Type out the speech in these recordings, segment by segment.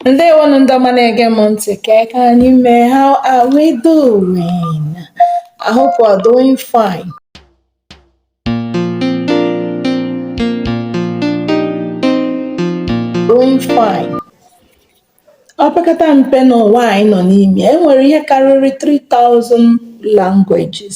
Ndewonu ndị ọma na-ege m ntị kee ka anyị mee how are we doing? I hope we're doing fine. Doing fine. Opekata mpe n'ụwa anyị nọ n'ime, e nwere ihe karịrị 3000 languages.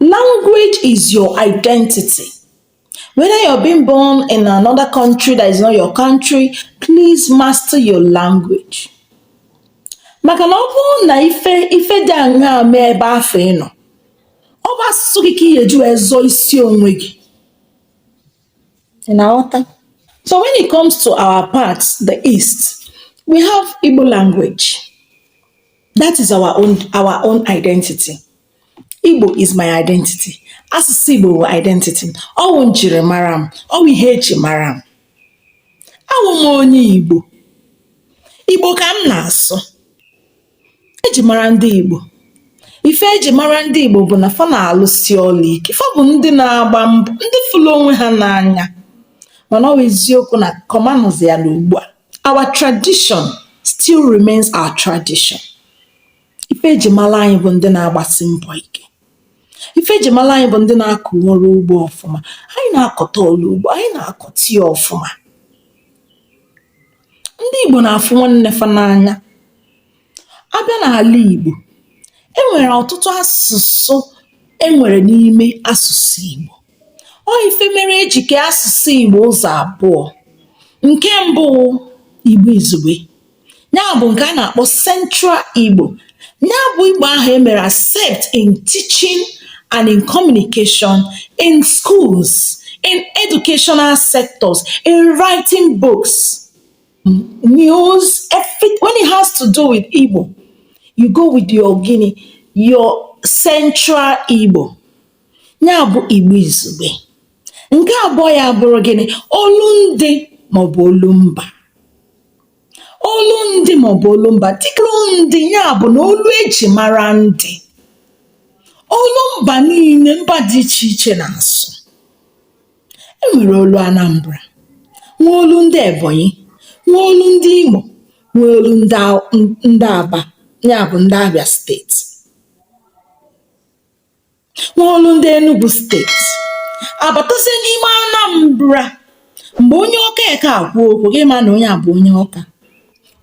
Language is your identity. Whether you're being born in another country that is not your country, please master your language. Maka na ọ bụrụ na ife ife dị aṅaa mee ebe afụ ị nọ, ọ bụ asụsụ gị ka ị ga-eji wee zọọ isi onwe gị. Ị na-aghọta? So when it comes to our part, the East, we have Igbo language. that is our own our own identity Igbo is my identity asụsụ Igbo bụ identity ọ wụ njirimara m ọ wụ ihe eji mara m awụ m onye Igbo Igbo ka m na-asụ eji mara ndị Igbo ife eji mara ndị Igbo bụ na fa na-alụsi ọlụ ike fa bụ ndị na-agba mbọ ndị fụlụ onwe ha n'anya mana ọ wụ eziokwu na kọmanụzi ya n'ugbu a our tradition still remains our tradition ife eji mala anyị bụ ndị na-agbasi mbọ ike ife eji mala anyị bụ ndị na-akọ ọrụ ugbo ọfụma anyị na-akọta ọlụ ugbo anyị na-akọta ya ọfụma ndị Igbo na-afụ nwanne fa n'anya A bịa n'àla ìgbò, e nwèrè ọ̀tụtụ asụ̀sụ e nwèrè n'ime asụ̀sụ ìgbò. Ọ ife mere e jì kee asụ̀sụ ìgbò ụzọ̀ àbụọ̄. Nke mbụ wụ̄ ìgbo ìzùgbe nya bụ̀ ǹkè a nà-àkpọ central ìgbò. Nya bụ̄ ìgbò ahụ̀ e mèrè accept in teaching and in communication, in schools, in educational sectors, in writing books. news, everything. When it has to do with Igbo, you go with your gịnị, your central Igbo. Ya bụ Igbo izugbe. Nke abụọ ya bụrụ gịnị? Olu ndị maọbụ olu mba. Olu ndị maọbụ olu mba. Dịka ndị ya bụ na olu eji mara ndị. Olu mba niile mba dị iche iche na-asụ. E nwere olu Anambra, nwee olu ndị Ebonyi, nwee olu ndị Imo, nwee olu ndị Aw- n- ndị Aba, ya bụ ndị Abia steeti, nwee olu ndị Enugu steeti. Abatazie n'ime Anambra, mgbe onye Ọka eke akwuo okwu, gị ma na onye a bụ onye Ọka.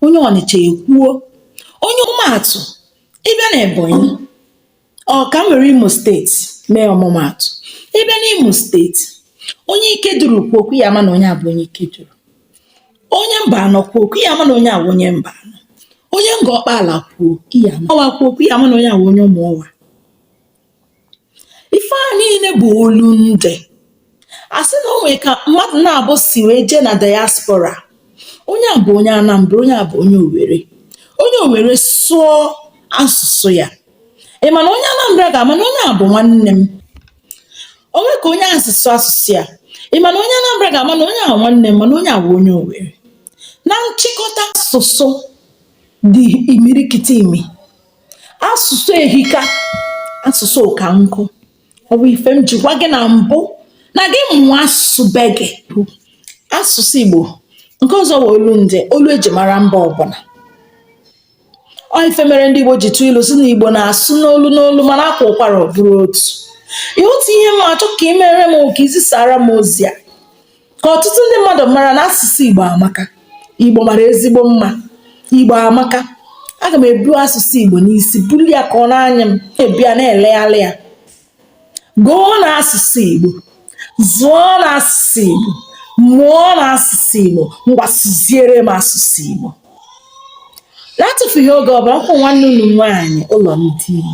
Onye Ọnịcha ekwuo, onye ọmụmaatụ, ị bịa na Ebonyi, Ọ ka m were Imo steeti mee ọmụmaatụ. Ị bịa n'Imo steeti, onye Ikeduru kwuo okwu ị ya-ama na onye a bụ onye ike duru. Onye Mbanọ kwuo okwu ị ya-ama na onye a bụ onye mba anọ. Onye Ngọ Ọkpaala kwuo okwu ị ya-ama Ọwa kwuo okwu ị ya-ama na onye a bụ onye Ụmụọwa. Ife a niile bụ olundị. a sị na o nwere ka mmadụ naabọ si wee jee na diaspora onye a bụ onye Anambra onye a bụ onye Owerri onye Owerri sụọ asụsụ ya ị ma na onye Anambra ga-ama na onye a bụ nwanne m o nwere ka onye a si sụọ asụsụ ya ị ma na onye Anambra ga-ama na onye a nwanne m mana onye a bụ onye Owerri na nchịkọta asụsụ dị imirikiti imi asụsụ ehika asụsụ ụka nkụ ọ bụ ife m ji gwa gị na mbụ na gị mụọ asụsụ be gị asụsụ igbo nke ọzọ bụ olundị olu e ji mara mba ọbụla ọ ife mere ndị igbo ji tụọ ilu sị na igbo na-asụ n'olu n'olu mana a kwaa ụkwara ọ bụrụ otu ihe otu ihe m achọ ka i meere m bụ ka i zisaara m ozi a ka ọtụtụ ndị mmadụ mara na asụsụ igbo amaka igbo mara ezigbo mma igbo amaka aga m ebu asụsụ igbo n'isi bulie ya ka ọ na-anyị m ebu ya na-elegharị ya gụọ na asụsụ igbo zụọ na asụsụ igbo mụọ na asụsụ igbo ngwa sụziere m asụsụ igbo na-atụfughị oge ọbụla nkwụ nwanne unu nwaanyị ụlọ ndị igbo